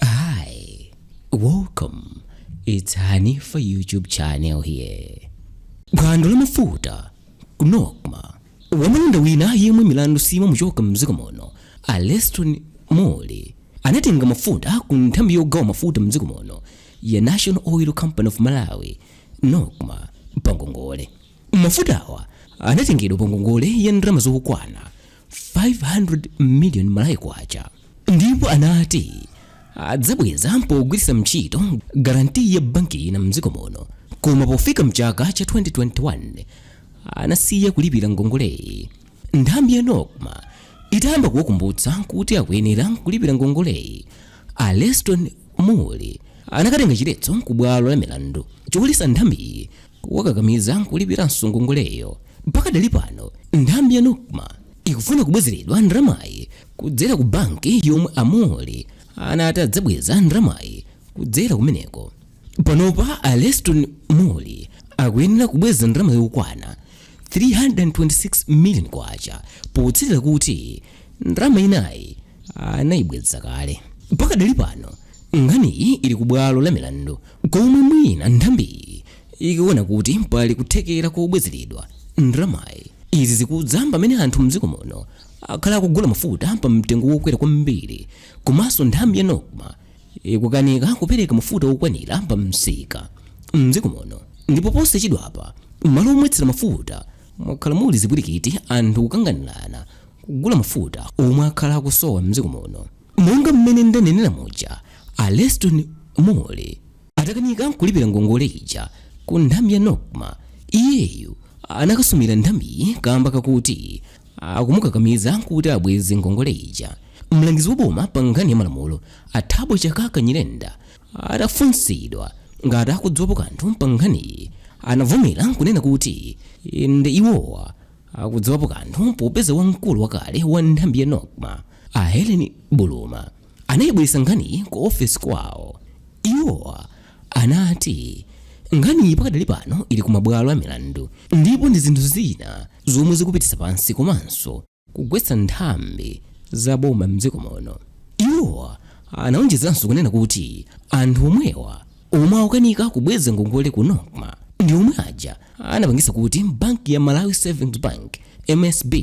Hi, welcome. It's Hanifa YouTube channel here. Phwando la mafuta ku Nocma wamalonda wina yemwe milandu simamuchoka mdziko muno a Leston Mulli anatenga mafuta ku nthambi yogawa mafuta mdziko muno ya National Oil Company of Malawi Nocma pangongole. Mafutawa anatengedwa pangongole ya ndalama zokwana 500 million malawi kwacha ndipo anati adzabweza pogwiritsa ntchito garanti ya banki ina mdziko muno koma pofika mchaka cha 2021 anasiya kulipira ngongoleyi nthambi ya nocma itayamba kuwakumbutsa kuti akuyenera kulipira ngongoleyi a leston mulli anakatenga chiletso ku bwalo la milandu choletsa nthambiyi kuwakakamiza kulipiranso ngongoleyo pakadali pano nthambi ya nocma ikufuna kubwezeredwa ndalamayi kudzera ku banki yomwe a mulli anati adzabweza ndalamayi kudzera kumeneko panopa a leston mulli akuyenera kubweza ndalama yokwana 326 million kwacha potsatira kuti ndalama inayi anayibweza kale pakadali pano nkhaniyi ili ku bwalo la milandu komwe mwina nthambiyi ikuona kuti pali kuthekera kobwezeredwa ndalamayi izi zikudza pamene anthu mdziko muno akhala akugula mafuta pa mtengo wokwera kwambiri komanso nthambi ya nocma ikukanika kupereka mafuta okwanira pa msika mdziko muno ndipo posachedwapa malo omwetsera mafuta mwakhala muli zipwirikiti anthu kukanganirana kugula mafuta omwe akhala akusowa mdziko muno. Monga mmene ndanenera muja, a Leston Mulli atakanika kulipira ngongole ija ku nthambi ya Nocma, iyeyu anakasumira nthambiyi kamba kakuti akumukakamiza kuti abweze ngongole ija. Mlangizi wa boma pa nkhani ya malamulo a Thabo Chakaka Nyirenda atafunsidwa ngati akudziwapo kanthu pa nkhaniyi anavomera nkunena kuti inde iwowa akudziwapo kanthu popeza wamkulu wakale wa nthambi ya nocma a helen buluma anayibweretsa nkhaniyi ku ofesi kwawo iwo anati nkhaniyi pakadali pano ili ku mabwalo a milandu ndipo ndi zinthu zina zomwe zikupititsa pansi komanso kugwetsa nthambi za boma mdziko muno iwo anawonjezanso kunena kuti anthu omwewa omwe akukanika kubweza ngongole ku nocma ndi omwe aja anapangitsa kuti banki ya malawi savings bank msb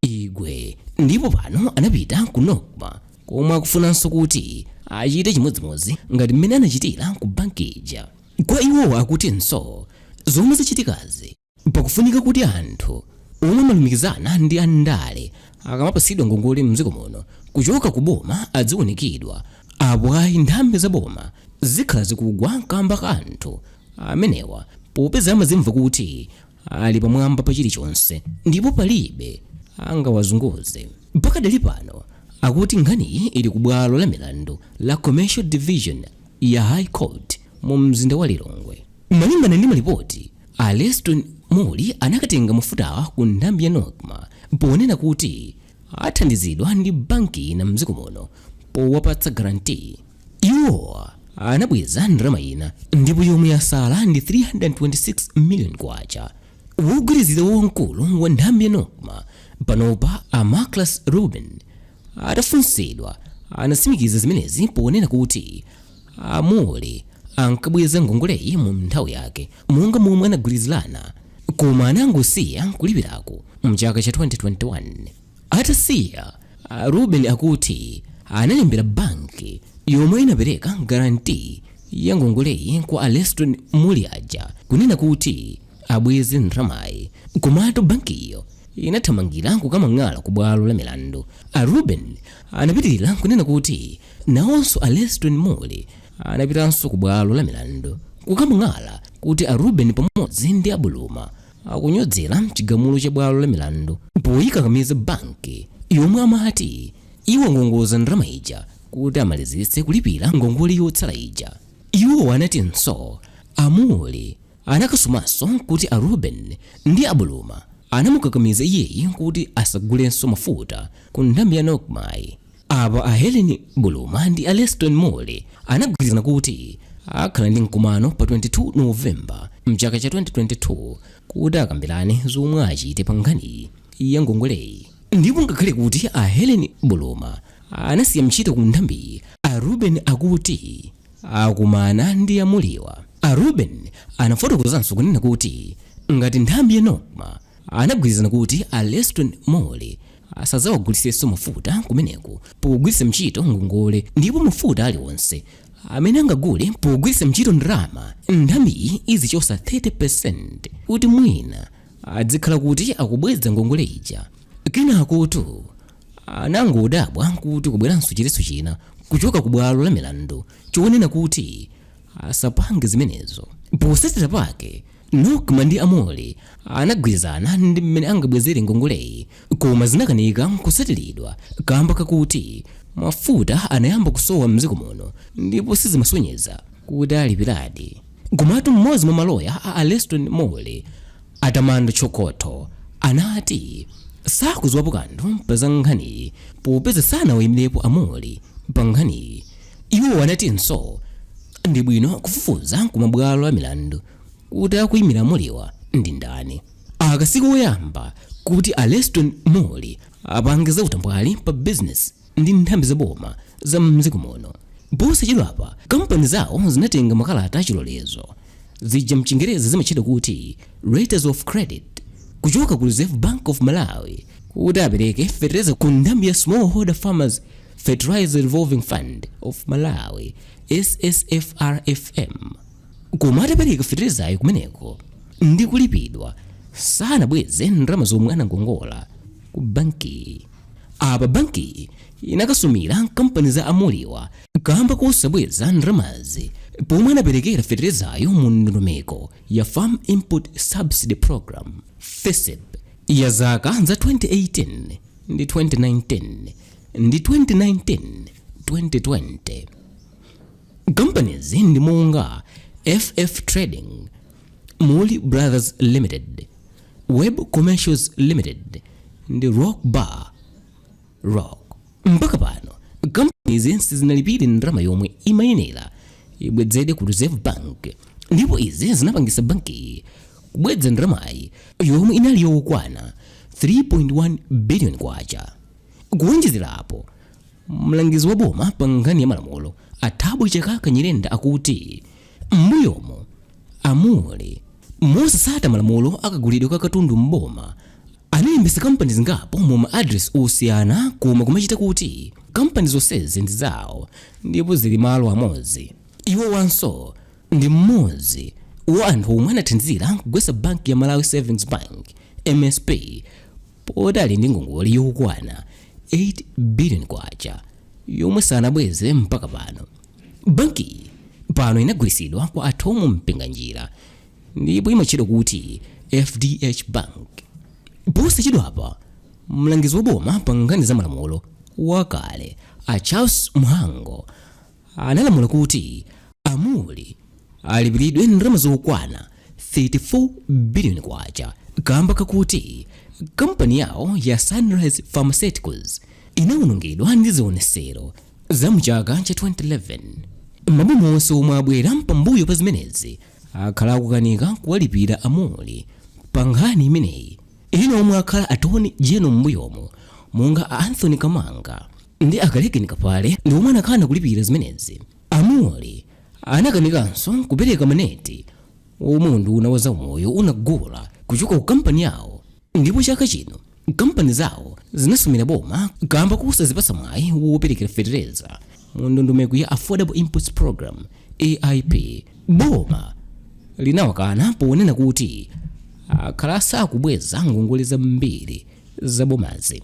igwe ndipo pano anapita ku nocma komwe akufunanso kuti achite chimodzimodzi ngati mmene anachitira ku banki ija kwa iwowo akutinso zomwe zachitikazi Pakufunika kuti anthu omwe amalumikizana ndi a ndale akamapatsidwa ngongole m'dziko muno kuchoka ku boma adziunikidwa, apo ayi nthambi za boma zikhala zikugwa kamba ka anthu amenewa popeza amadzimva kuti ali pamwamba pa chilichonse ndipo palibe angawazunguze. Pakadali pano akuti nkhaniyi ili ku bwalo la milandu la Commercial Division ya High Court mu mzinda wa Lilongwe. Malingana ndi malipoti A Leston Mulli anakatenga mafutawa ku nthambi ya Nocma ponena kuti athandizidwa ndi banki ina mdziko muno powapatsa guarantee. Iwo anabweza ndalama ina ndipo yomwe yatsala ndi K326 million kwacha. Wogwirizira wa wamkulu wa nthambi ya Nocma panopa a Marclus Reuben atafunsidwa anatsimikiza zimenezi ponena kuti A Mulli ankabweza ngongoleyi mu nthawi yake monga momwe anagwirizirana koma anangosiya kulipirako mchaka cha 2021. Atasiya, a Reuben akuti analembera banki yomwe inapereka guarantee ya ngongoleyi kwa a Leston Mulli aja kunena kuti abweze ndalamayi komatu bankiyo inathamangira kukamang'ala ku bwalo la milandu. A Reuben anapitirira kunena kuti Nawonso a Leston Mulli anapitanso ku bwalo la milandu kukamang'ala kuti a Reuben pamodzi ndi a Buluma akunyodzera chigamulo cha bwalo la milandu poyikakamiza banki yomwe amati iwangongoza ndalama ija kuti amalizitse kulipira ngongole yotsala ija. Iwo anatinso a Mulli anakasumanso kuti a Reuben ndi a Buluma anamukakamiza iyeyi kuti asagulenso mafuta ku nthambi ya Nocmayi. Apa a Helen Buluma ndi a Leston Mulli anagwirizana kuti akhala ndi mkumano pa 22 Novemba mchaka cha 2022 kuti akambirane zomwe achite pa nkhani ya ngongoleyi. Ndipo ngakhale kuti a Helen Buluma anasiya ntchito ku nthambiyi, a Reuben akuti akumana ndi a Mulliwa. A Reuben anafotokozanso kunena kuti ngati nthambi ya Nocma anagwirizana kuti a Leston Mulli asadzawagulitsenso mafuta kumeneko pogwiritsa mchito ngongole ndipo mafuta aliwonse amene angagule pogwiritsa mchito ndalama nthambiyi izichotsa 30% kuti mwina adzikhala kuti akubweza ngongole ija kenakotu anangodabwa kuti kubweranso chiletso china kuchoka ku bwalo la milandu chonena kuti asapange zimenezo potsatira pake Nocma ndi a Mulli anagwirizana ndi mmene angabwezere ngongoleyi koma zinakanika kutsatiridwa kaamba kakuti mafuta anayamba kusowa m'dziko muno ndipo sizimasonyeza kuti alipiradi. Komatu mmodzi mwa maloya a a Leston Mulli, a Tamando Chokotho, anati sakudziwapo kanthu pa za nkhaniyi popeza sanawaimirepo a Mulli pa nkhaniyi. Iwo anatinso ndi bwino kufufuza ku mabwalo a milandu kuti akuimira a Mulliwa ndi ndani. Aka si koyamba kuti a Leston Mulli apange za utambwali pa bizinesi ndi nthambi za boma za m'dziko muno. Posachedwapa, kampani zawo zinatenga makalata a chilolezo, zija m'Chingerezi zimatchedwa kuti Letters of Credit, kuchoka ku Reserve Bank of Malawi kuti apereke fetereza ku nthambi ya Smallholder Farmers Fertilizer Revolving Fund of Malawi SFFRFM koma atapereka fertilizayo kumeneko ndi kulipidwa sanabweze ndalama zomwe anangongola ku bankiyi apa bankiyi inakasumira kampani za a Mulliwa kamba kosabweza ndalamazi pomwe anaperekera fertilizayo mu ndondomeko ya farm input subsidy program FISP ya zaka za 2018 ndi 2019 ndi 2019-2020 kampanizi ndi monga ff trading Mulli brothers limited web commercials limited ndi rock ba rock mpaka pano kampanizi sizinalipire ndalama yomwe imayenera ibwezedwe ku reserve bank ndipo izi zinapangisa bankiyi kubweza ndalamayi yomwe inali yokwana 3.1 billion kwacha Kuwonjezerapo, mlangizi wa boma pa nkhani ya malamulo a Thabo Chakaka Nyirenda akuti m'mbuyomu a Mulli, mosasata malamulo a kagulidwe ka katundu m'boma, analembetsa kampani zingapo mu ma adiresi osiyana koma kuma cheater kuti kampani zonsezi ndi zawo ndipo zili malo amodzi. Iwowanso ndi mmodzi wa anthu omwe anathandizira kugwetsa banki ya Malawi Savings Bank, msb, poti ali ndi ngongole yokwana 8 billion kwacha yomwe sanabweze mpaka pano bankiyi pano inagulitsidwa kwa a Thom Mpinganjira ndipo imatchedwa kuti fdh bank posachedwapa mlangizi waboma pa nkhani za malamulo wakale a charles mhango analamula kuti a Mulli alipiridwe ndalama zokwana 34 biliyoni kwacha kamba kakuti kampani yawo ya Sunrise Pharmaceuticals inawonongedwa ndi zionesero za mu chaka cha 2011. Maboma onse omwe abwera pambuyo pa zimenezi akhala akukanika kuwalipira a Mulli pa nkhani imeneyi. Ena omwe akhala Attorney General m'mbuyomu monga a Anthony Kamanga ndi a Kalekeni Kaphale ndi omwe anakana kulipira zimenezi. A Mulli anakanikanso kupereka maneti omwe unduna wa zaumoyo unagula kuchoka ku kampani yawo ndipo chaka chino kampani zawo zinasumira boma kamba kosazipatsa mwayi woperekera fetereza mu ndondomeko ya Affordable Inputs Program AIP. Boma linawakana ponena kuti akhala asakubweza ngongole zambiri za bomazi.